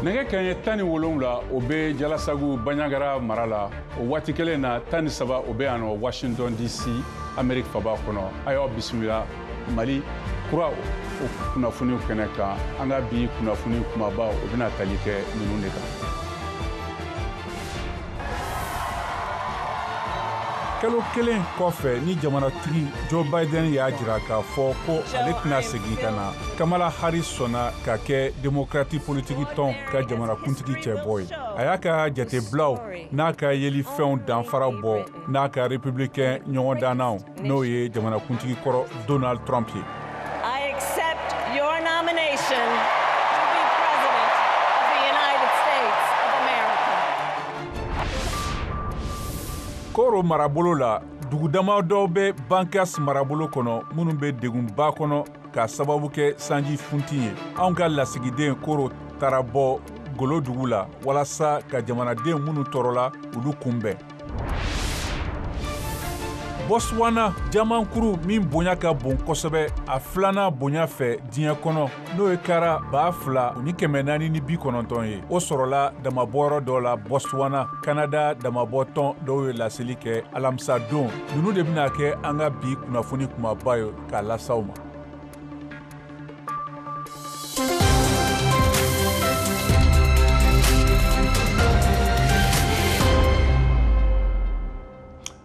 nɛgɛ kanɲɛ tan ni wolonwula o bɛ jalasagu baɲagara mara la o waati kelen na tan ni saba o bɛ yan nɔ washington dc ameriki faba kɔnɔ an y'aw bisimila mali kura o kunnafoniw kɛnɛ kan an ka bi kunnafoni kunbabaw o bɛna tali kɛ ninnu de kan kalo kelen kɔfɛ ni jamanatigi joe biden y'a jira k'a fɔ ko ale tɛna segin ka na kamala harris sɔnna ka kɛ demokrati politiki tɔn ka jamanakuntigi cɛbɔ ye a y'a ka jatebilaw n'a ka yelifɛnw danfara bɔ n'a ka republikɛn ɲɔgɔndannaw n'o ye jamanakuntigi kɔrɔ donald trump ye koro marabolo la dugu dama dɔw bɛ bankas marabolo kɔnɔ minnu bɛ degunba kɔnɔ ka sababu kɛ sanji funti ye anw ka lasigiden koro taara bɔ golo dugu la walasa ka jamanaden minnu tɔɔrɔla olu kunbɛn bɔswana jamankuru min bonya ka bon kosɛbɛ a filanan bonya fɛ diɲɛ kɔnɔ n'o ye kara ba fila ni kɛmɛ naani ni bi kɔnɔntɔn ye o sɔrɔla damanbɔyɔrɔ dɔ la bɔswana kanada damanbɔtɔn dɔw ye laseli kɛ alamisa don ninnu de bɛna kɛ an ka bi kunnafoni kunbaba ye k'a las'aw ma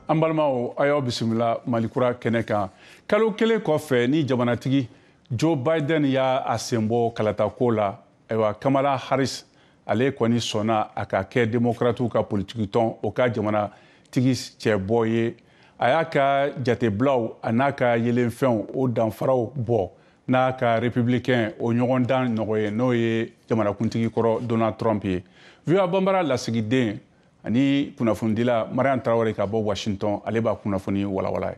an balimaw a y'aw bisimila malikura kɛnɛ kan kalo kelen kɔfɛ ni jamanatigi joe biden y'a sen bɔ kalatako la ayiwa kamala harris ale kɔni sɔnna a ka kɛ democratiw ka politikitɔn o ka jamanatigi cɛbɔ ye a y'a ka jatebilaw an'a ka yelenfɛnw o danfaraw bɔ n'a ka republicain o ɲɔgɔndan ɲɔgɔn ye n'o ye jamanakuntigi kɔrɔ donald trump ye voa banbara lasigiden ani kunnafonidila mariam traore ka bɔ washington ale b'a kunnafoni walawala ye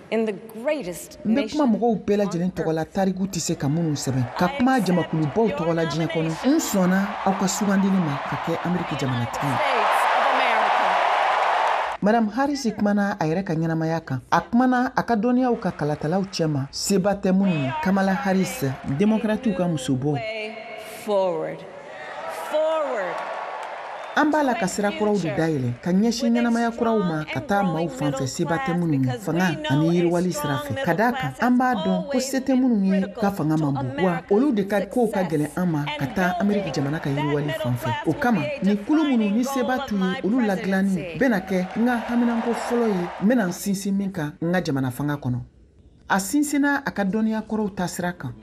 n bɛ kuma mɔgɔw bɛɛ lajɛlen tɔgɔ la tariku tɛ se ka minnu sɛbɛn ka kuma jamakulubaw tɔgɔ la diɲɛ kɔnɔ n sɔnna aw ka sugandili ma ka kɛ ameriki jamanatigi ye madam harris kumana a yɛrɛ ka ɲɛnamaya kan a kumana a ka dɔnniyaw kan kalatalaw cɛma seba tɛ minnu ye kamala harris demokratiw ka musobɔ an b'a la ka sira kuraw de dayɛlɛ ka ɲɛsin ɲɛnamaya kuraw ma ka taa maaw fan fɛ seba tɛ minnu ye fanga ani yiriwali sira fɛ ka d'a kan an b'a dɔn ko se tɛ minnu ye ka fanga man bon wa olu de ka kow ka gɛlɛn an ma ka taa ameriki jamana ka yiriwali fan fɛ o kama nin kulu minnu ni seba t'u ye olu ladilanni bɛna kɛ n ka haminanko fɔlɔ ye n bɛna n sinsin min kan n ka jamana fanga kɔnɔ a sinsinna a ka dɔnniya kɔrɔw taasira kan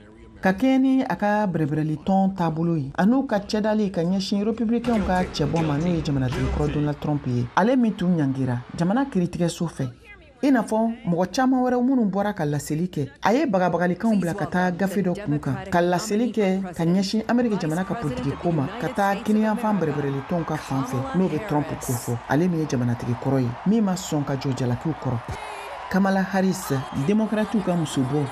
ka kɛɲɛ ni a ka bɛrɛbɛrɛli tɔn taabolo ye an'u ka cɛdali ka ɲɛsin republikɛnw ka cɛbɔ ma n'o ye jamanatigi kɔrɔ donald trump ye ale min tun ɲangira jamana kiritigɛso fɛ i n'a fɔ mɔgɔ caman wɛrɛw minnu bɔra ka laseli kɛ a ye bagabagalikanw bila ka taa gafe dɔ kun kan ka laseli kɛ ka ɲɛsin ameriki jamana ka politiki ko ma ka taa kiniyanfan bɛrɛbɛrɛli tɔnw ka fan fɛ n'o bɛ trump ko fɔ ale min ye jamanatigi kɔrɔ ye min ma sɔn ka jɔ jalakiw kɔrɔ Kamala Harris, demokratiw ka musobɔ.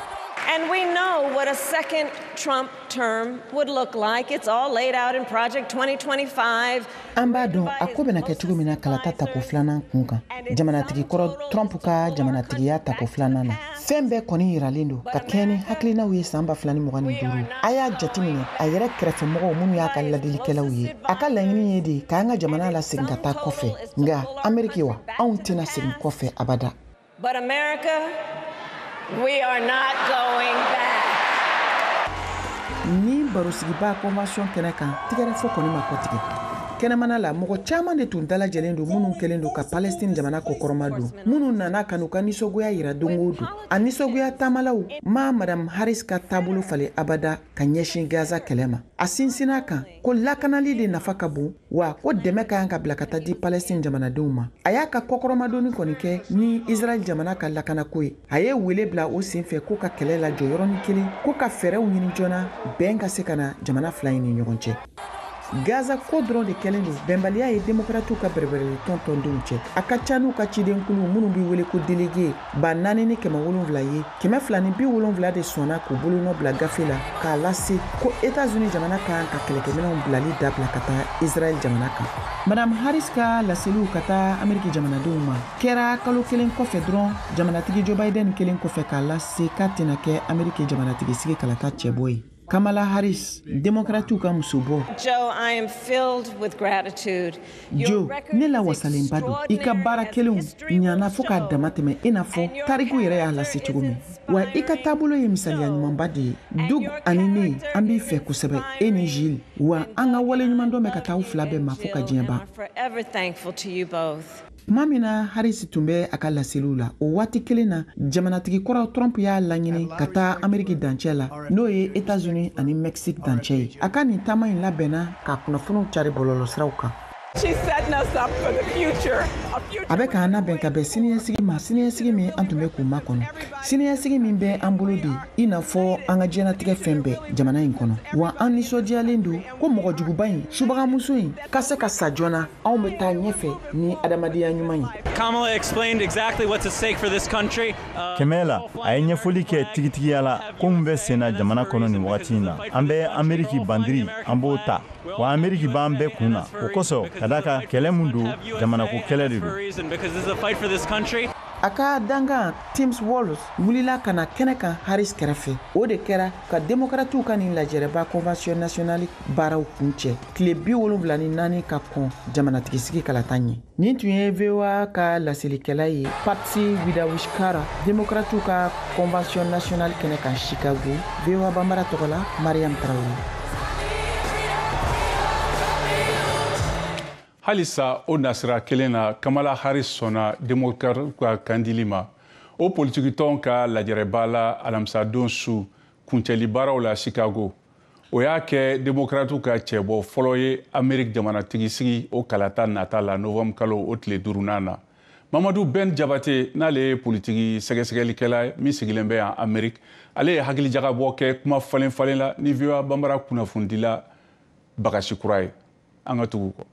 And we know what a second Trump term would look like. It's all laid out in Project 2025. An b'a dɔn a ko bɛna kɛ cogo min na kalata tako filanan kun kan jamanatigi kɔrɔ Trump ka jamanatigiya tako filanan na fɛn bɛɛ kɔni yiralen don ka kɛɲɛ ni hakilinaw ye san ba fila ni mugan ni duuru a y'a jateminɛ a yɛrɛ kɛrɛfɛmɔgɔw minnu y'a ka ladilikɛlaw ye a ka laɲini ye de k'an ka jamana lasegin ka taa kɔfɛ nka ameriki wa anw tɛna segin kɔfɛ abada But America, we are not going back. nin barosigiba convention kɛnɛ kan tigɛrɛfɔ kɔni ma kɔtigɛ kɛnɛmana la mɔgɔ caman de tun dalajɛlen don minnu kɛlen don ka palestine jamana kɔkɔrɔmadon minnu nana ka n'u ka nisɔgoya yira don o don a nisɔgoya taamalaw ma madam harris ka taabolo falen abada ka ɲɛsin gaza kɛlɛ ma a sinsinn'a kan ko lakanali de nafa ka bon wa ko dɛmɛ ka kan ka bila ka taa di palɛstin jamanadenw ma a y'a ka kɔkɔrɔmadonni kɔni kɛ ni israɛl jamana ka lakanako ye a ye wele bila o sen fɛ ko ka kɛlɛ lajɔ yɔrɔnin kelen ko ka fɛɛrɛw ɲini joona bɛn ka se ka na jamana fila in ni ɲɔgɔn cɛ gaza ko dɔrɔn de kɛlen don bɛnbaliya ye demokratiw ka bɛrɛbɛrɛli tɔn tɔndenw cɛ a ka ca n'u ka cidenkulu minnu bɛ wele ko delege ba naani ni kɛmɛ wolonwula ye kɛmɛ fila ni bi wolonfila de sɔnna k'u bolonɔ bila gafe la k'a lase ko etazuni jamana ka kan ka kɛlɛkɛminɛnw bilali dabila ka taa israɛl jamana kan madam haris ka laseliw ka taa ameriki jamanadenw ma kɛra kalo kelen kɔfɛ dɔrɔn jamanatigi joe biden kɛlen kɔfɛ k'a lase k'a tɛna kɛ ameriki jamanatigi sigi kalata cɛbɔ ye Kamala Harris, demokratiw ka musobɔ. Joe, I am filled with gratitude. Joe, ne lawasalenba don. I ka baara kɛlenw ɲana fo k'a dama tɛmɛ i n'a fɔ tariku yɛrɛ y'a lase cogo min. Wa i ka taabolo ye misaliya ɲumanba de ye. Doug ani ne, an b'i fɛ kosɛbɛ, e ni Jill. Wa an ka waleɲumandɔn bɛ ka taa aw fila bɛɛ ma fo ka diɲɛ ban. Tuma min na Harris tun bɛ a ka laseliw la, o waati kelen na, jamanatigi kɔrɔ Trump y'a laɲini ka taa Ameriki dancɛ la, n'o ye Etats-Unis ani Mexique dancɛ ye. A ka nin taama in labɛnna k'a kunnafoniw carin bɔlɔlɔsiraw kan. A bɛ k'an labɛn ka bɛn siniɲɛsigi ma, siniɲɛsigi min an tun bɛ k'u makɔnɔ, siniɲɛsigi min bɛ an bolo de i n'a fɔ an ka diɲɛlatigɛ fɛn bɛɛ jamana in kɔnɔ. Wa an nisɔndiyalen don ko mɔgɔjuguba in, subagamuso in, ka se ka sa joona anw bɛ taa ɲɛfɛ ni adamadenya ɲuman ye Kamala explained exactly what's at stake for this country. Uh, Kamala a ye ɲɛfɔli kɛ tigitigiya la ko min bɛ senna jamana kɔnɔ nin wagati in na an bɛ ameriki bandiri an b'o ta wa ameriki b'an bɛɛ kun na o kosɔn ka d'a kan kɛlɛ min don jamanako kɛlɛ de don a ka dankan tim walz wulila ka na kɛnɛ kan harris kɛrɛfɛ o de kɛra ka demokratiw ka nin lajɛrɛba convention nationale baaraw kuncɛ tile bi wolonwula ni naani ka kɔn jamanatigisigi kalata ɲɛ nin tun ye voa ka laselikɛla ye patsy widakuswara demokratiw ka convention nationale kɛnɛ kan chicago voa banbara tɔgɔ la mariam tarawele halisa o nasira kelen na kamala harris sɔnna demokratiw ka kandili ma o politikitɔn ka lajɛrɛba la alamisadon su kuncɛli baaraw la chicago o y'a kɛ demokratiw ka cɛbɔ fɔlɔ ye ameriki jamanatigi sigi o kalata nata la novembre kalo o tile duurunan na mamadu ben jabate n'ale ye politiki sɛgɛsɛgɛlikɛla min sigilen bɛ yan ameriki ale ye hakilijagabɔ kɛ kuma falen falen la ni voa banbara kunnafonidila bagasi kura ye an ka tugu kɔ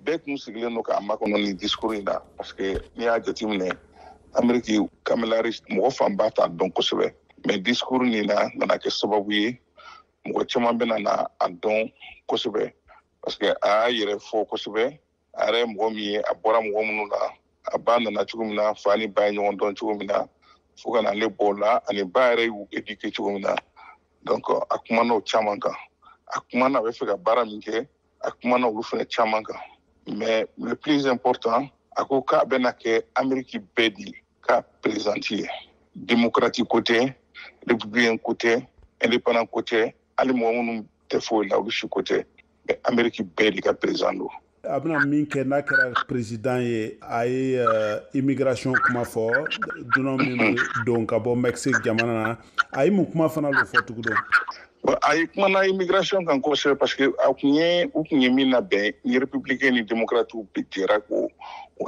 bɛɛ kun sigilen don k'a makɔnɔ nin discours in na parce que n'i y'a jateminɛ ameriki kamala harris mɔgɔ fanba t'a dɔn kosɛbɛ mais discours nin na nana kɛ sababu ye mɔgɔ caman bɛna na a dɔn kosɛbɛ parce que a y'a yɛrɛ fɔ kosɛbɛ a yɛrɛ ye mɔgɔ min ye a bɔra mɔgɔ minnu na a ba nana cogo min na fa ni ba ye ɲɔgɔn dɔn cogo min na fo ka na ale bɔ o la ani ba yɛrɛ y'u éduquer cogo min na donc a kumana o caman kan a kumana a bɛ fɛ ka baara min kɛ a kumana olu fana caman kan mais le plus important a ko k'a bɛna kɛ ameriki bɛɛ de ka perezidanti ye demokrati ko tɛ republikɛn ko tɛ indépendant ko tɛ hali mɔgɔ minnu tɛ foyi la olu si ko tɛ ameriki bɛɛ de ka perezidan don a bɛna min kɛ n'a kɛra perezidan ye a ye eh, immigration kuma fɔ dunan min bɛ don ka bɔ mexique jamana na a ye mun kuma fana lo fɔ tugun donc a ye kumana immigration kan kosɛbɛ parce que a kun ye u kun ye min labɛn ni républicain ni démocrate bɛɛ jɛra k'o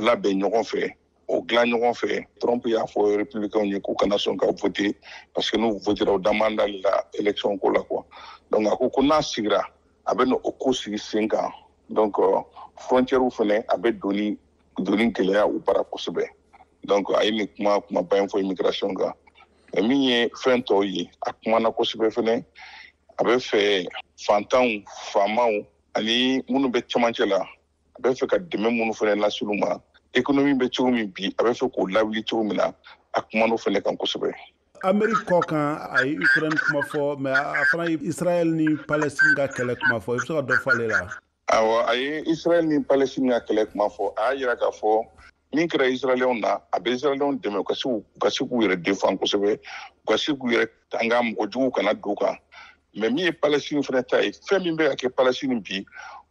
labɛn ɲɔgɔn fɛ o dilan ɲɔgɔn fɛ trump y'a fɔ republicainw ye k'u kana sɔn ka vote parce que n'u votera o da man d'ale la election ko la quoi donc a ko ko n'a sigira a bɛ na o ko sigi sen kan donc euh, frontiɛrw fɛnɛ a bɛ donni gɛlɛya u bara kosɛbɛ donc a ye nin kuma kumaba in fɔ immigration kan mais min ye fɛn tɔw ye a kumana kosɛbɛ fɛnɛ a bɛ fɛ fantanw faamaw ani minnu bɛ cɛmancɛ la a bɛ fɛ ka dɛmɛ minnu fɛnɛ lase olu ma ekonomi bɛ cogo min bi a bɛ fɛ k'o lawuli cogo min na a kuman'o fɛnɛ kan kosɛbɛ ameriki kɔ kan a ye ukraine kuma fɔ mais a fana ye israɛl ni palestine ka kɛlɛ kuma fɔ i bɛ se ka dɔ fɔ ale la awɔ a ye israɛl ni palestine ka kɛlɛ kuma fɔ a y'a yira k'a fɔ min kɛra israɛlɛnw na a bɛ israɛlɛnw dɛmɛ u ka se u ka se k'u yɛrɛ défend kosɛbɛ u ka se k'u yɛrɛ tanga mɔgɔ juguw kana don u kan mais min ye palestine fɛnɛ ta ye fɛn min bɛ ka kɛ palestine bi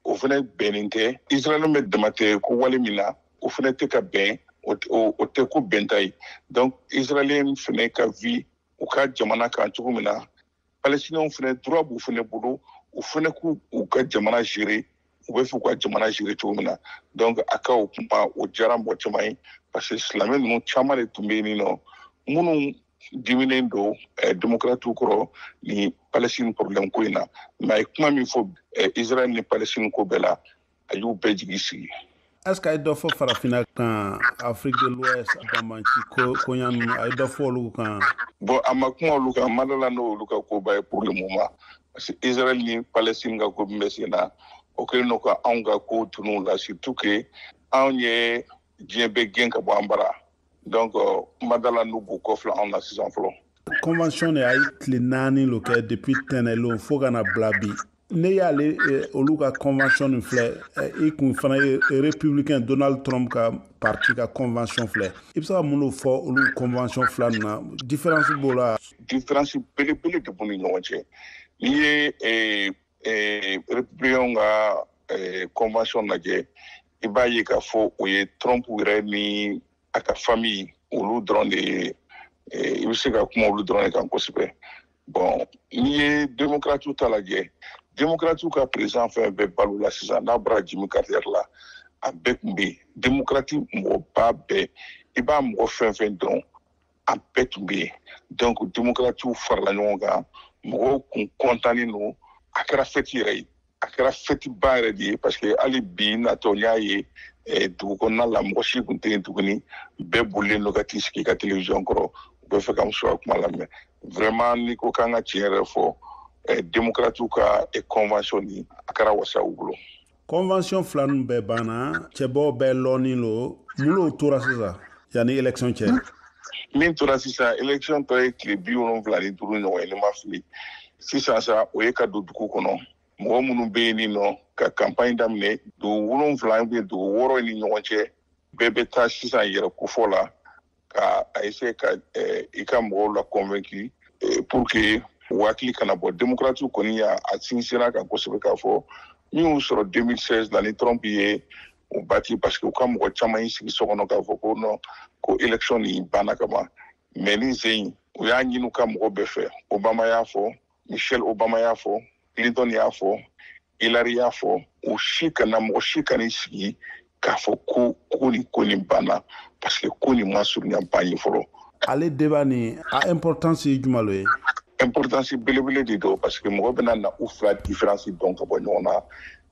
o fɛnɛ bɛnnen tɛ israɛlɛn bɛ dama tɛ ko wale min na o fɛnɛ tɛ ka bɛn o tɛ ko bɛnta ye donc israɛlɛn fɛnɛ ka vi u ka jamana kan cogo min na palestiniens fɛnɛ droit b'u fɛnɛ bolo u fɛnɛ k'u u ka jamana gérer u bɛ fɛ ka jamana gérer cogo min na donc a ka o kuma o diyara mɔgɔ caman ye parce que silamɛ ninnu caman de tun bɛ yen nɔ minnu diminen don eh, démocratiw kɔrɔ ni palestine problème ko in na mais a ye kuma min fɔ eh, israel ni palestine ko bɛɛ la a y'u bɛɛ jigi sigi est-ce que a ye dɔ fɔ farafinna kan afrique de l'ouest banbanci koɲa ninnu a ye dɔ fɔ olu kan bon a ma kuma olu kan n ma d'a la n'o olu ka koba ye pour le moment parce que israel ni palestine ka ko min bɛ sen na o kɛlen don ka anw ka ko tunun la surtout que anw ye diɲɛ bɛɛ gɛn ka bɔ an bara donc euh, n ma d'a la n'u b'u kɔfilɛ anw na sisan fɔlɔ convention nin a ye tile naani lo kɛ depuis tɛnɛnlon fo ka na bila bi ne y'ale eh, olu ka convention nin filɛ eh, i kun fana ye républicain donald trump ka parti ka convention filɛ i bɛ se ka mun de fɔ olu convention fila nin na différence b'o la différence belebele de b'u ni ɲɔgɔn cɛ n'i ye eh, ee républicainw ka ee convention lajɛ i b'a ye k'a fɔ o ye trump yɛrɛ ni a ka famille olu dɔrɔn de ye ee i bɛ se ka kuma olu dɔrɔn de kan kosɛbɛ bon n'i ye demokratiw ta lajɛ demokratiw ka président fɛn bɛ balo la sisan n'a bɔra jimmy carter la a bɛɛ tun bɛ yen demokrati mɔgɔba bɛɛ i b'a mɔgɔ fɛn fɛn dɔn a bɛɛ tun bɛ yen donc demokratiw farala ɲɔgɔn kan mɔgɔw kun kɔntannen don a kɛra fɛti yɛrɛ ye a kɛra fɛtiba yɛrɛ de ye parce que hali bi natɔ n y'a ye eh, dugu kɔnɔna la mɔgɔ si kun tɛ yen tuguni bɛɛ bolilen don ka t'i sigi i ka telewisiyɔn kɔrɔ u bɛ fɛ ka muso ka kuma lamɛn vraiment n'i ko k'an ka tiɲɛ yɛrɛ fɔ eh, demokratiw ka eh, convention nin a kɛra wasa u bolo convention fila ninnu bɛɛ banna cɛbɔw bɛɛ lɔnnin lo mun lo tora sisan yanni élection cɛ min tora sisan élection tɔ ye tile bi wolonwula ni duuru ɲɔgɔn ye ne ma fili sisan sa o ye ka don dugu kɔnɔ mɔgɔ minnu bɛ yen nin nɔ ka campagne daminɛ dugu wolonwula ou bien dugu wɔɔrɔ ni ɲɔgɔn cɛ bɛɛ bɛ taa sisan yɛrɛ kofɔ la ka a essayer ka eh, i ka mɔgɔw la convaincu eh, pour que u hakili kana bɔ démocratiw kɔni y'a sinsin a kan kosɛbɛ k'a fɔ min y'u sɔrɔ 2016 la ni trump ye u bati parce que u ka mɔgɔ caman y'i sigi so kɔnɔ k'a fɔ ko non ko élection nin banna ka ban mais nin sen in u y'a ɲini u ka mɔgɔ bɛɛ fɛ obama y'a fɔ michelle obama y'a fɔ clinton y'a fɔ hillary y'a fɔ u si kana mɔgɔ si kan'i sigi k'a fɔ ko ko nin ko nin banna parce que ko nin ma surunya ban ye fɔlɔ ale débat nin a importance ye jumɛn lo ye importance belebele de don parce que mɔgɔ bɛna na u fila différence dɔn ka bɔ ɲɔgɔn na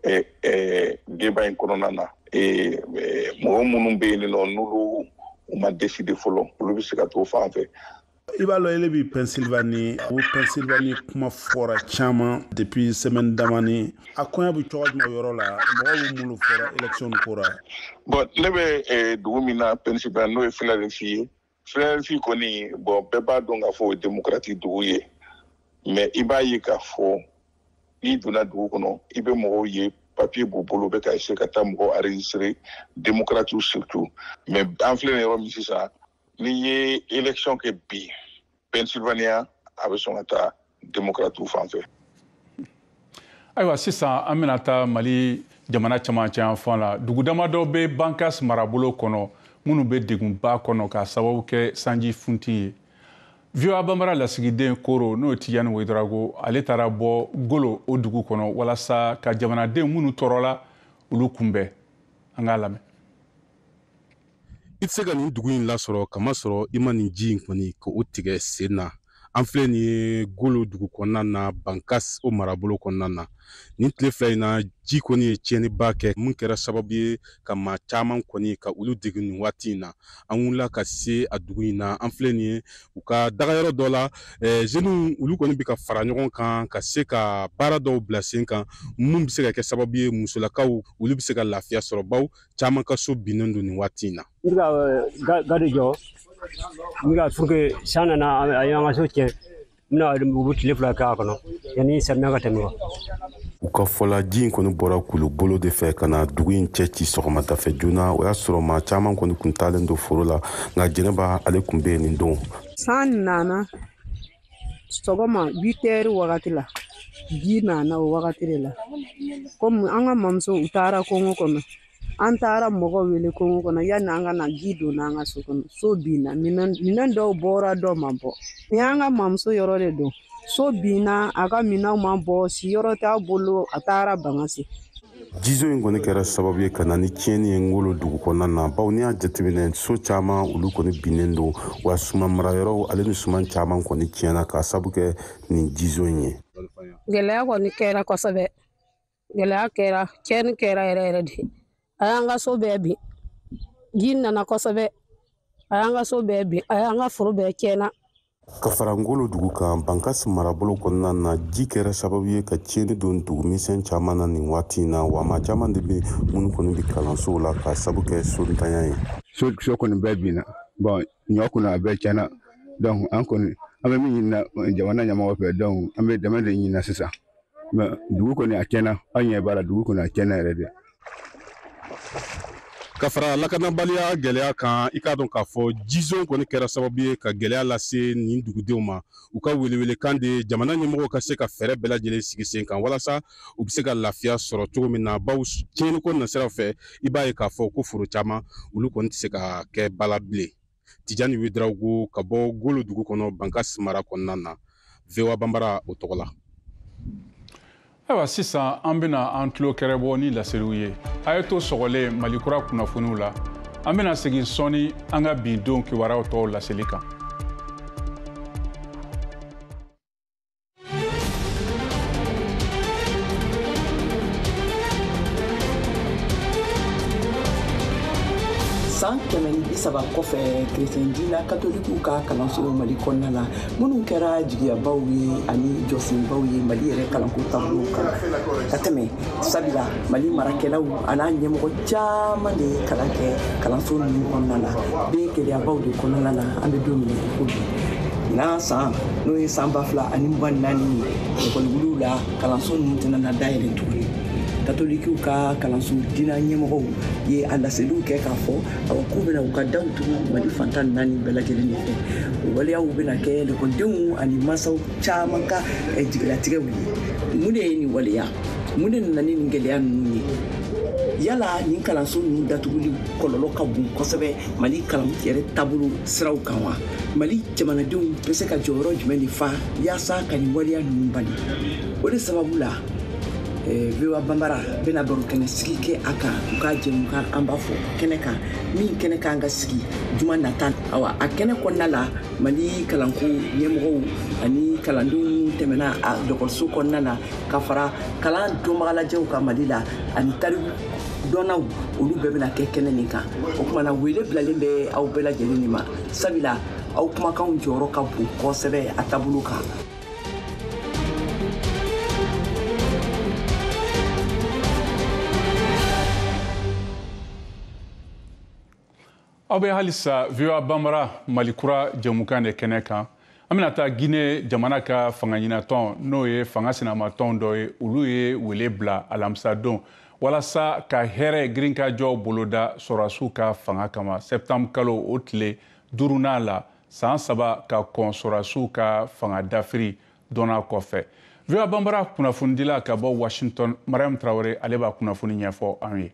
eh, eh, débat in kɔnɔna na eh, mɔgɔ minnu bɛ yen nɔ n'olu u ma décider fɔlɔ olu bɛ se ka t'o fan fɛ i b'a lɔn ele bi pennsylvanie o pennsylvanie kuma fɔra caman depuis semaine damani a koɲa bi cogo jumɛn yɔrɔ la mɔgɔ bɛ mun lo fɔra élection ko ra bon ne bɛ eh, dugu min na pennsylvanie n'o ye philadelphie ye philadelphie kɔni bon bɛɛ b'a dɔn k'a fɔ o ye démocratiw dugu ye mais i b'a ye k'a fɔ n'i donna dugu kɔnɔ i bɛ mɔgɔw ye papier b'u bolo u bɛ ka essayer ka taa mɔgɔw enregistrer démocratiw surtout mais an filɛ nin yɔrɔ min sisan n'i ye election kɛ bi pennsylvania a bɛ sɔn ka taa democratiw fan fɛ ayiwa sisan an bɛna taa mali jamana camancɛ yanfan la dugu damadɔ bɛ bankas marabolo kɔnɔ minnu bɛ degunba kɔnɔ ka sababu kɛ sanji funti ye voa banbara lasigiden koro n'o tijani wedrago ale taara bɔ golo o dugu kɔnɔ walasa ka jamanaden minnu tɔɔrɔla olu kunbɛn an k'a lamɛn i tɛ se ka nin dugu in lasɔrɔ k'a masɔrɔ i ma nin ji in kɔni ka o tigɛ sen na an filɛ nin ye golo dugu kɔnɔna na bankas o marabolo kɔnɔna na nin tile fila in na ji kɔni ye tiɲɛniba kɛ min kɛra sababu ye ka maa caman kɔni ka olu degun nin waati in na an wulila ka se a dugu in na an filɛ nin ye u ka dagayɔrɔ dɔ la zeniw olu kɔni bɛ ka fara ɲɔgɔn kan ka se ka baara dɔw bila sen kan minnu bɛ se ka kɛ sababu ye musolakaw olu bɛ se ka lafiya sɔrɔ baw caman ka so binnen don nin waati in na n ka eh, gadi jɔ n ka puruke san nana a y'an ka so tiɲɛ n bɛna u bɛ tile fila kɛ a kɔnɔ yanni samiya ka tɛmɛ wa u ka fɔ la ji in kɔni bɔra kulubolo de fɛ ka na dugu in cɛ ci sɔgɔmadafɛ joona o y'a sɔrɔ maa caman kɔni kun taalen don foro la nka jɛnɛba ale kun bɛ yen nin don san nana sɔgɔma witɛri wagati la ji nana o wagati de la komi an ka mamuso u taara kungo kɔnɔ an taara mɔgɔ wele kungo kɔnɔ yanni an ka na ji donna an ka so kɔnɔ so binna minɛn dɔw bɔra dɔw ma bɔ nin an ka mamuso yɔrɔ de don so binna a ka minɛnw ma bɔ siyɔrɔ t'a bolo a taara bankasi jizo in kɔni kɛra sababu ye ka na ni tiɲɛni ye ngolo dugu kɔnɔna na bawo n'i y'a jateminɛ so caman olu kɔni binnen don wa suman marayɔrɔw ale ni suman caman kɔni tiɲɛna k'a sabu kɛ nin jizo in ye gɛlɛya kɔni kɛra kosɛbɛ gɛlɛya kɛra tiɲɛni kɛra yɛrɛ yɛrɛ de a y'an ka so bɛɛ bin ji nana kosɛbɛ a y'an ka so bɛɛ bin a y'an ka foro bɛɛ tiɲɛna ka fara ngolo dugu kan bankasi marabolo kɔnɔna na ji kɛra sababu ye ka tiɲɛni don dugu misɛn caman na nin waati in na wa maa caman de bɛ minnu kɔni bɛ kalansow la k'a sabu kɛ sontanya ye so kɔni bɛɛ binna bon ɲɔ kɔni a bɛɛ tiɲɛna donc an kɔni an bɛ min ɲinina jamana ɲɛmɔgɔ fɛ donc an bɛ dɛmɛ de ɲinina sisan mais dugu kɔni a tiɲɛna an ɲɛ b'a la dugu kɔni a tiɲɛna yɛrɛ de ka fara lakanabaliya gɛlɛya kan i k'a dɔn k'a fɔ jizon kɔni kɛra sababu ye ka gɛlɛya lase nin dugudenw ma u ka welewelekan de jamana ɲɛmɔgɔw ka se ka fɛɛrɛ bɛɛ lajɛlen sigi sen kan walasa u bɛ se ka lafiya sɔrɔ cogo min na bawo tiɲɛniko nasiraw fɛ i b'a ye k'a fɔ ko foro caman olu kɔni tɛ se ka kɛ bala bilen tijani wedirawogo ka bɔ ngolo dugu kɔnɔ bankasi mara kɔnɔna na voa banbara o tɔgɔ la ayiwa sisan an bɛna an tulo kɛrɛbɔ ni laseliw ye a ye to sɔgɔlen mali kura kunnafoniw la an bɛna segin sɔɔni an ka bi don kibaruyaw tɔw laseli kan san kɛmɛ ni bi saba kɔfɛ kerecɛn dina katolikiw ka kalansow mali kɔnɔna la minnu kɛra jigiyabaw ye ani jɔsenbaw ye mali yɛrɛ kalanko taabolo kan ka tɛmɛ sabula mali marakɛlaw an'a ɲɛmɔgɔ caman de ye kalan kɛ kalanso ninnu kɔnɔna na bɛ gɛlɛyabaw de kɔnɔna na an bɛ don min ko bi ɲinan san n'o ye san ba fila ani mugan naani ye ekɔliwuliw la kalanso ninnu tɛna na dayɛlɛ tuguni katolikiw ka kalanso dina ɲɛmɔgɔw ye a laseliw kɛ k'a fɔ awa k'u bɛna u ka daw tugu mali fan tan ni naani bɛɛ lajɛlen de fɛ o waleyaw bɛna kɛ lekɔlidenw ani masaw caman ka eh, jigilatigɛw ye mun de ye nin waleya mun de nana ni nin gɛlɛya ninnu ye yala nin kalanso ninnu datuguli kɔlɔlɔ ka bon kosɛbɛ mali kalan yɛrɛ taabolo siraw kan wa mali jamanadenw bɛ se ka jɔyɔrɔ jumɛn de fa yaasa ka nin waleya ninnu bali o de sababu la eh, voa banbara bɛna baro kɛnɛ sigi kɛ a kan u ka jɛmukan an b'a fɔ kɛnɛ kan min kɛnɛ kan ka sigi juma nata awa a kɛnɛ kɔnɔna la mali kalanko ɲɛmɔgɔw ani kalandenw tɛmɛna a dɔgɔtɔrɔso kɔnɔna na ka fara kalan dɔnbagalajɛw ka mali la ani tariku dɔnnaw olu bɛɛ bɛna kɛ kɛnɛ nin kan o kumana wele bilalen bɛ aw bɛɛ lajɛlen de ma sabula aw kumakanw jɔyɔrɔ ka bon kosɛbɛ a taabolo kan aw bɛ halisa voa banbara mali kura jɛmukan de kɛnɛ kan an bɛna taa guinée jamana ka fanga ɲinatɔn n'o ye fanga sinamatɔn dɔ ye olu ye wele bila alamisadon walasa ka hɛrɛ girinkajɔ boloda sɔrɔdasiw ka fanga kama sɛptanburu kalo o tile duruna la saan saba ka kɔn sɔrɔdasiw ka fanga dafiri dɔnna kɔfɛ voa banbara kunnafonidila ka bɔ washington mariam traoré ale b'a kunnafoni ɲɛfɔ an ye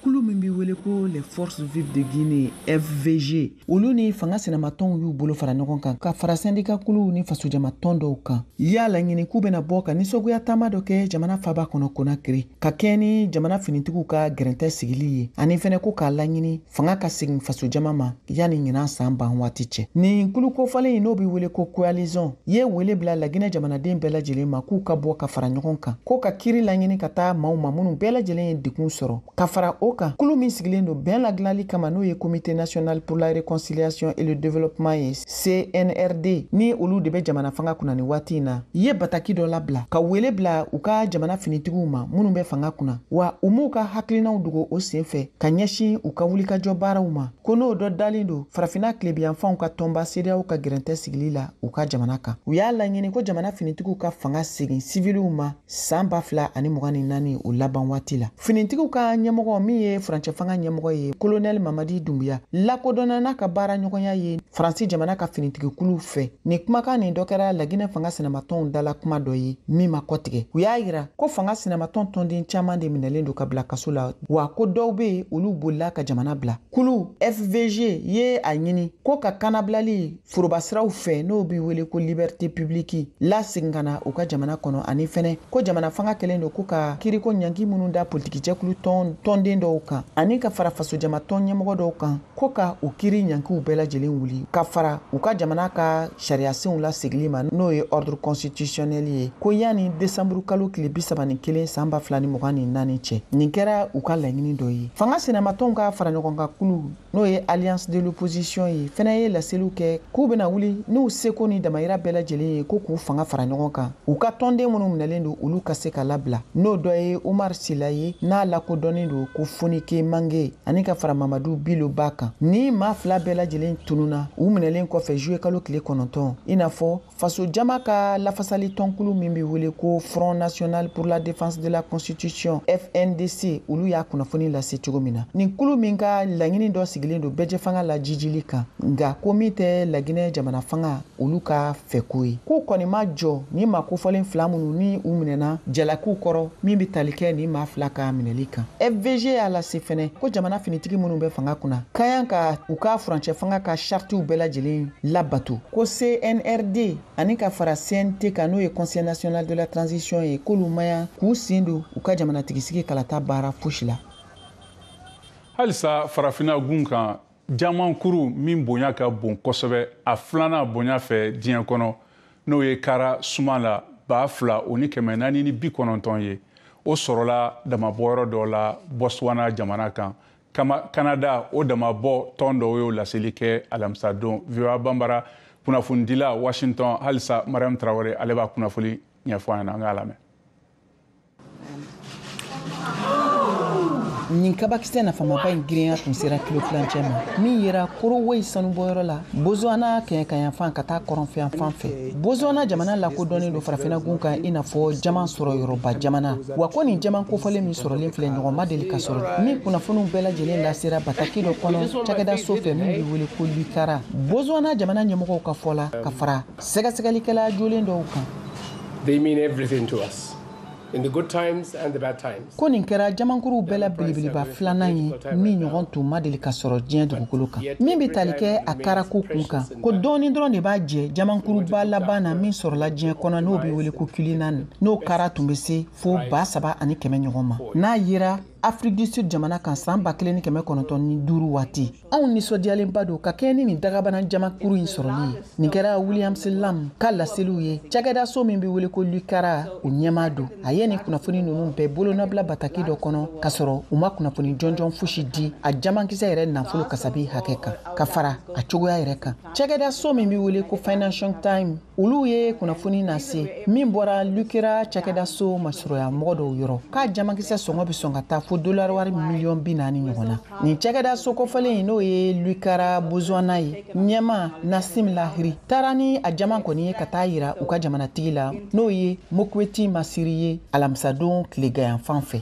kulu min bɛ wele ko les forces vives de guinée fvg olu ni fanga sinamatɔnw y'u bolo fara ɲɔgɔn kan ka fara sɛndika kuluw ni fasojamatɔn dɔw kan y'a laɲini k'u bɛna bɔ ka nisɔgoya taama dɔ kɛ jamana faaba kɔnɔ konakiri ka kɛɲɛ ni jamana finitigiw ka gɛrɛntɛ sigili ye ani fɛnɛ ko k'a laɲini fanga ka segin fasojama ma yanni ɲinan saan ban waati cɛ nin kulu kofɔlen in n'o be wele ko coalition ye wele bila laginɛ jamanaden bɛɛ lajɛlen ma k'u ka bɔ ka fara ɲɔgɔn kan ko ka kiri laɲini ka taa maaw ma minnu bɛɛ lajɛlen ye degun sɔrɔ ka fara o kan kulu min sigilen don bɛn ladilali kama n'o ye comité national pour la réconciliation et le développement ye cnrd ni olu de bɛ jamana fanga kunna ni waati in na ye bataki dɔ labila ka wele bila u ka jamana finitigiw ma minnu bɛ fanga kunna wa u m'u ka hakilinaw dogo o sen fɛ ka ɲɛsin u ka wulikajɔ baaraw ma ko n'o dɔ dalen don farafina tilebiyanfanw ka tɔnba cedeao ka gɛrɛntɛ sigili la u ka jamana kan u y'a laɲini ko jamana finitigiw ka fanga segin siviliw ma saan ba fila ani mugan ni naani o laban waati la finitigiw ka ɲɛmɔgɔ min ye furancɛ fanga ɲɛmɔgɔ ye kolonɛli mamadi dunbuya lakodɔnna n'a ka baara ɲɔgɔnya ye faransi jamana ka finitigikulu fɛ nin kumakan nin dɔ kɛra laginɛ fanga sinamatɔnw dala kuma dɔ ye min ma kɔtigɛ u y'a yira ko fanga sinamatɔn tɔnden caaman de minɛlen don ka bila kaso la wa ko dɔw be yen olu bolila ka jamana bila kulu fvg ye a ɲini ko ka kanabilali forobasiraw fɛ n'o be wele ko liberté publique lasegin ka na u ka jamana kɔnɔ ani fɛnɛ ko jamana fanga kɛlen don ko ka kiriko ɲanki minnu da politiki jɛkulu tɔnden dɔw kan ani ka fara fasojama tɔn ɲɛmɔgɔ dɔw kan ko ka u kiri ɲankiw bɛɛ lajɛlen wuli ka fara u ka jamana ka sariyasenw lasegili ma n'o ye ordre constitutionnel ye ko yanni desanburu kalo tile bisaba ni kelen saan ba fila ni mugan ni naani cɛ nin kɛra u ka laɲini dɔ ye fanga sinamatɔnw ka faraɲɔgɔnkan kulu n'o ye alliance de l'opposition ye fɛnɛ ye laseliw kɛ k'u bena wuli n'u seko ni damayira bɛɛ lajɛlen ye ko k'u fanga fara ɲɔgɔn kan u ka tɔnden minnu minɛlen don olu ka se ka labila n'o dɔ ye umar sila ye n'a lakodɔnnen don ko fonike mange ani ka fara mamadu bilo ba kan nin maa fila bɛɛ lajɛlen tununa u minɛlen kɔfɛ juye kalo tile kɔnɔntɔn i n'a fɔ faso jama ka lafasali tɔnkulu min be wele ko front national pour la défense de la constitution fndc olu y'a kunnafoni lase cogo min na nin kulu min ka laɲini dɔ sigilen don bɛɛjɛfanga la jijili kan nka ko min tɛ laginɛ jamana fanga olu ka fɛko ye k'u kɔni ma jɔ ni maa kofɔlen fila minnu ni u minɛna jalakiw kɔrɔ min be tali kɛ nin maa fila ka minɛli kan fvg y'a lase fɛnɛ ko jamana finitigi minnu bɛ fanga kunna ka kan ka u ka furancɛ fanga ka chartiw bɛɛ lajɛlen labato ko cnrd ani ka fara cnt kan n'o ye conseil national de la transition ye k'olu man kan k'u sen don u ka jamanatigisigi kalata baara fosi la halisa farafina gun kan jamankuru min bonya ka bon kosɛbɛ a filanan bonya fɛ diɲɛ kɔnɔ n'o ye kara suma la ba fila o ni kɛmɛ naani ni bi kɔnɔntɔn ye o sɔrɔla damanbɔyɔrɔ dɔ la botswana jamana kan kanada o damanbɔ tɔn dɔw y'o laseli kɛ alamisadon voa banbara kunnafonidila washington halisa mariam tarawele ale b'a kunnafoni ɲɛfɔ an ɲɛna an k'a lamɛn nin kabakisɛ nafamaba in girinya tun sera kilo tilancɛ ma min yera karowe sanubɔyɔrɔ la botswana kɛɲɛkayanfan ka taa kɔrɔnfɛyanfan fɛ botswana jamana lakodɔnnen don farafinagun kan i n'a fɔ jaman sɔrɔ yɔrɔba jamana wa ko nin jaman kofɔlen min sɔrɔlen filɛ ɲɔgɔn ma deli ka sɔrɔ nin kunnafoniw bɛɛ lajɛlen lasera bataki dɔ kɔnɔ cakɛda so fɛ min bɛ wele ko lukara botswana jamana ɲɛmɔgɔw ka fɔ la ka fara Sɛgɛsɛgɛlikɛla jolen dɔw kan. They mean everything to us. In the good times and the bad times. Ko nin kɛra jamankuruw bɛɛ la belebeleba filanan ye min ɲɔgɔn tun ma deli ka sɔrɔ diɲɛ dugukolo kan min bɛ tali kɛ a karako kun kan ko dɔɔni dɔrɔn de b'a jɛ jamankuruba laban na min sɔrɔla diɲɛ kɔnɔ n'o bɛ wele ko cullinan n'o kara tun bɛ se fo ba saba ani kɛmɛ ɲɔgɔn ma n'a yera afrique du sud jamana kan san ba kelen ni kɛmɛ kɔnɔntɔn ni duuru waati anw nisɔndiyalenba don ka kɛɲɛ ni nin dagabana jamankuru in sɔrɔli ye nin kɛra williams lamb ka laseliw ye cakɛda so min be wele ko lukara o ɲɛmaa don a ye nin kunnafoni nunu bɛɛ bolonabila bataki dɔ kɔnɔ ka sɔrɔ u ma kunnafoni jɔnjɔn fosi di a jamankisɛ yɛrɛ nafolo kasabi hakɛ kan ka fara a cogoya yɛrɛ kan cakɛda so min be wele ko financial time olu ye kunnafoni nase min bɔra lukara cakɛda so masurunya mɔgɔ dɔw yɔrɔ k'a jamankisɛ sɔngɔ bɛ sɔn ka taa fo dolari wari miliyɔn bi naani ɲɔgɔn na nin cakɛda so kofɔlen n'o ye lukara botswana ye ɲɛmaa nasim lahiri taara ni a jaman kɔni ye ka taa yira u ka jamanatigi la n'o ye mokweti masiri ye alamisadon tileganyanfan fɛ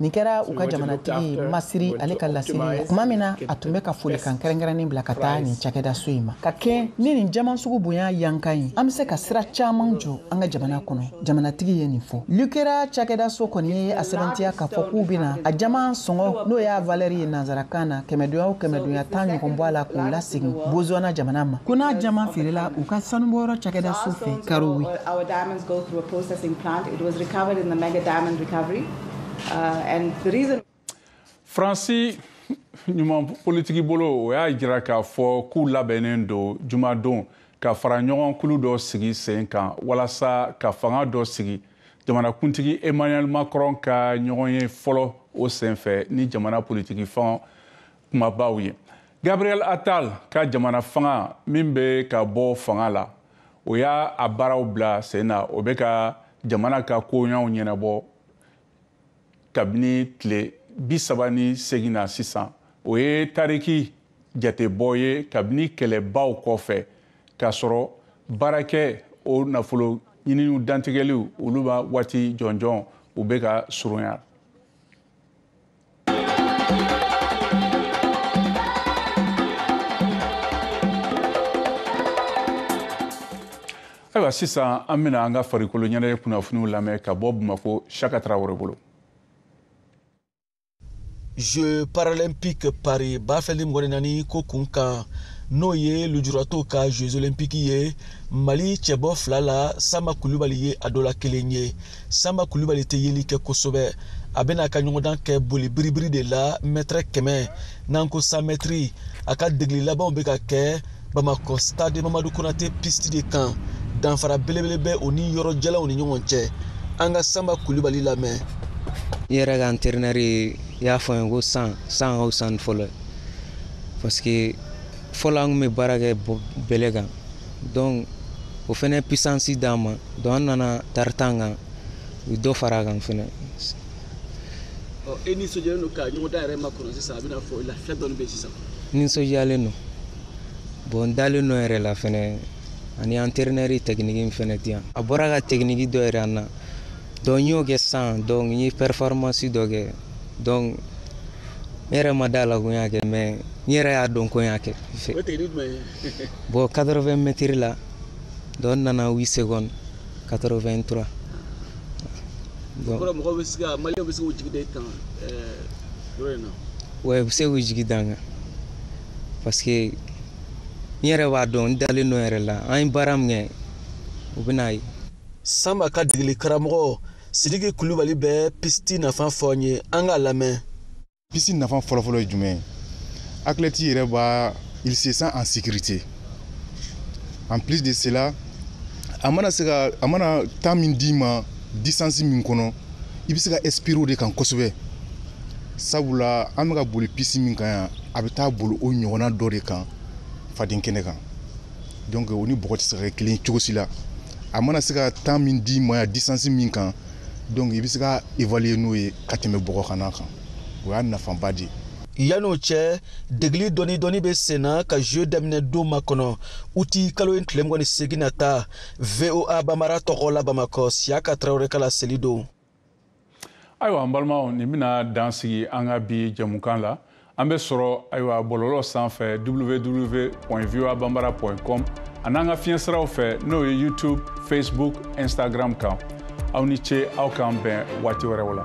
nin kɛra u ka jamanatigi masiri ale ka laseli kuma min na a tun bɛ ka folikan kɛrɛnkɛrɛnnen bila ka taa nin cakɛda so in ma ka kɛɲɛ ni nin jaman sugu bonya yankan ye an bɛ se ka sira caman jɔ an ka jamana kɔnɔ jamanatigi ye nin fɔ lucara cakɛda so kɔni ye a sɛbɛntiya k'a fɔ k'u bɛna a jaman sɔngɔ n'o y'a valeur ye nanzarakan na kɛmɛdonya o kɛmɛdonya tan ɲɔgɔn bɔ a la k'o lasegin botswana jamana ma ko n'a jaman feerela u ka sanubɔyɔrɔ cakɛda so fɛ karowe Go through a processing plant. It was recovered in the mega diamond recovery. Uh, and the reason. Fransi numan politiki bolo o y'a jira k'a fɔ k'u labɛnnen don jumadon ka fara ɲɔgɔn kulu dɔ sigi sen kan walasa ka fanga dɔ sigi jamanakuntigi emmanuel macron ka ɲɔgɔn ye fɔlɔ o senfɛ ni jamana politiki fanga kumabaw ye gabriel attal ka jamana fanga min bɛ ka bɔ fanga la o y'a a baaraw bila sen na o bɛ ka jamana ka koɲaw ɲɛnabɔ kabini tile bi saba ni seegin na sisan o ye tariki jatebɔ ye kabini kɛlɛbaw kɔfɛ k'a sɔrɔ baarakɛ o nafolo ɲininiw dantigɛliw olu b'a waati jɔnjɔn u bɛ ka surunya ayiwa sisan an bɛna an ka farikolo ɲɛnajɛ kunnafoniw lamɛn ka bɔ bamakɔ shaka tarawele bolo jeux paralympique paris ba fila ni mugan ni naani ko kun kan n'o ye lujuratɔw ka jeux olympique ye mali cɛbɔ fila la sanba kulubali ye a dɔ la kelen ye sanba kulubali tɛ yeli kɛ kosɛbɛ a bɛna a ka ɲɔgɔndan kɛ boli biribiri de la mɛtɛrɛ kɛmɛ n'an ko cent mètres a ka degeli labanw bɛ ka kɛ bamakɔ stade mamadu konate piste de kan danfara belebele bɛ o ni yɔrɔ jalanw ni ɲɔgɔn cɛ an ka sanba kulubali lamɛn n yɛrɛ ka entraîneur y'a fɔ n ye ko sisan ka fisa ni fɔlɔ ye parce que fɔlɔ an tun bɛ baara kɛ bɛlɛ kan donc o fɛnɛ puissance d'an ma donc an nana tartan kan u dɔ fara a kan fɛnɛ e nisɔndiyalen don ka ɲɔgɔndan yɛrɛ makɔnɔ sisan a bɛna fɔ i la fɛn dɔɔni bɛ sisan nisɔndiyalen don bon n dalen don n yɛrɛ la fɛnɛ ani entraîneur technique in fɛnɛ di yan a bɔra ka technique dɔ yira an na donc n y'o kɛ sisan donc n ye performance dɔ kɛ donc n yɛrɛ ma da la ko n y'a kɛ mais n yɛrɛ y'a dɔn ko n y'a kɛ bon 80 mètres la donc n nana 8 secondes 83 bon o kɔrɔ mɔgɔw bɛ se ka maliyɛnw bɛ se k'u jigi da i kan yɔrɔ in na wa u bɛ se k'u jigi da n kan parce que n yɛrɛ b'a dɔn n dalen don n yɛrɛ la an ye baara min kɛ u bɛn'a ye sanba ka degeli karamɔgɔ sidiki kulubali bɛ piste nafa fɔ an ye an k'a lamɛn piste nafa fɔlɔfɔlɔ ye jumɛn ye athlète yɛrɛ b'a il se sent en sécurité en plus de cela a mana se ka a mana temps min d'i ma distance min kɔnɔ i bɛ se ka inspirer o de kan kosɛbɛ sabula an bɛ ka boli piste min kan yan a bɛ taa boli o ɲɔgɔnna dɔ de kan faden kɛnɛ kan donc o ni bɔgɔ tɛ se ka kɛ kelen cogo si la a mana se ka temps min d'i ma yan distance min kan donc i bɛ se ka évaluer n'o ye ka tɛmɛ bɔgɔ kan n'a kan o y'a nafaba de ye yan'o cɛ degeli dɔɔni dɔɔni bɛ sen na ka jeu daminɛ don makɔnɔ uti kalo in tile mugan ni seegin nata voa banbara tɔgɔ la bamakɔ siyaka tarawele ka laseli don ayiwa an balimaw nin bɛna dan sigi an ka bi jɛmukan la an bɛ sɔrɔ ayiwa bɔlɔlɔ sanfɛ www voa banbara com an'an ka fiɲɛ siraw fɛ n'o ye youtube facebook instagram kan aw ni ce aw k'an bɛn waati wɛrɛw la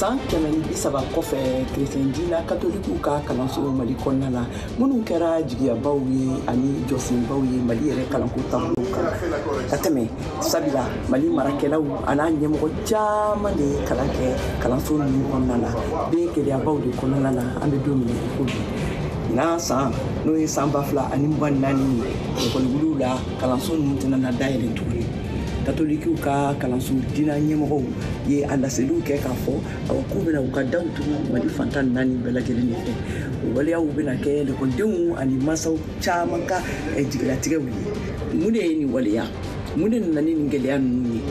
san kɛmɛ ni bi saba kɔfɛ kerecɛn dina katolikiw ka kalanso mali kɔnɔna la minnu kɛra jigiyabaw ye ani jɔsenbaw ye mali yɛrɛ kalanko taabolo kan ka tɛmɛ sabula mali marakɛlaw an'a ɲɛmɔgɔ caman de ye kalan kɛ kalanso ninnu kɔnɔna na bɛ gɛlɛyabaw de kɔnɔna na an bɛ don min ko bi ɲinan san n'o ye san ba fila ani mugan ni naani ye ekɔli wuliw la kalanso ninnu tɛna na dayɛlɛ tuguni katolikiw ka kalanso dina ɲɛmɔgɔw ye a laseliw kɛ k'a fɔ awa k'u bɛna u ka daw tugu mali fan tan ni naani bɛɛ lajɛlen de fɛ o waleyaw bɛna kɛ lekɔlidenw ani mansaw caman ka eh, jigilatigɛw ye mun de ye nin waleya mun de nana ni nin gɛlɛya ninnu ye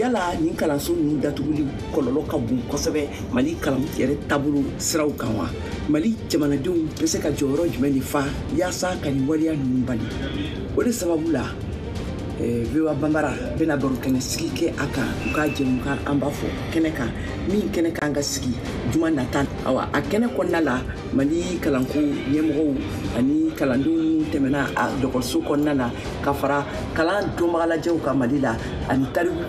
yala nin kalanso ninnu datuguli kɔlɔlɔ ka bon kosɛbɛ mali kalan yɛrɛ taabolo siraw kan wa mali jamanadenw bɛ se ka jɔyɔrɔ jumɛn de fa yaasa ka nin waleya ninnu bali o de sababu la eh, voa banbara bɛna baro kɛnɛ sigi kɛ a kan u ka jɛmukan an b'a fɔ kɛnɛ kan min kɛnɛ kan ka sigi juma nata awa a kɛnɛ kɔnɔna la mali kalanko ɲɛmɔgɔw ani kalandenw minnu tɛmɛna a dɔgɔtɔrɔso kɔnɔna na ka fara kalan dɔnbaga lajɛw kan mali la ani tariku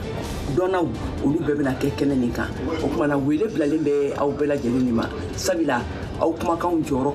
dɔnnaw olu bɛɛ bɛna kɛ kɛnɛ nin kan o kuma na wele bilalen bɛ aw bɛɛ lajɛlen de ma sabula aw kumakanw jɔyɔrɔ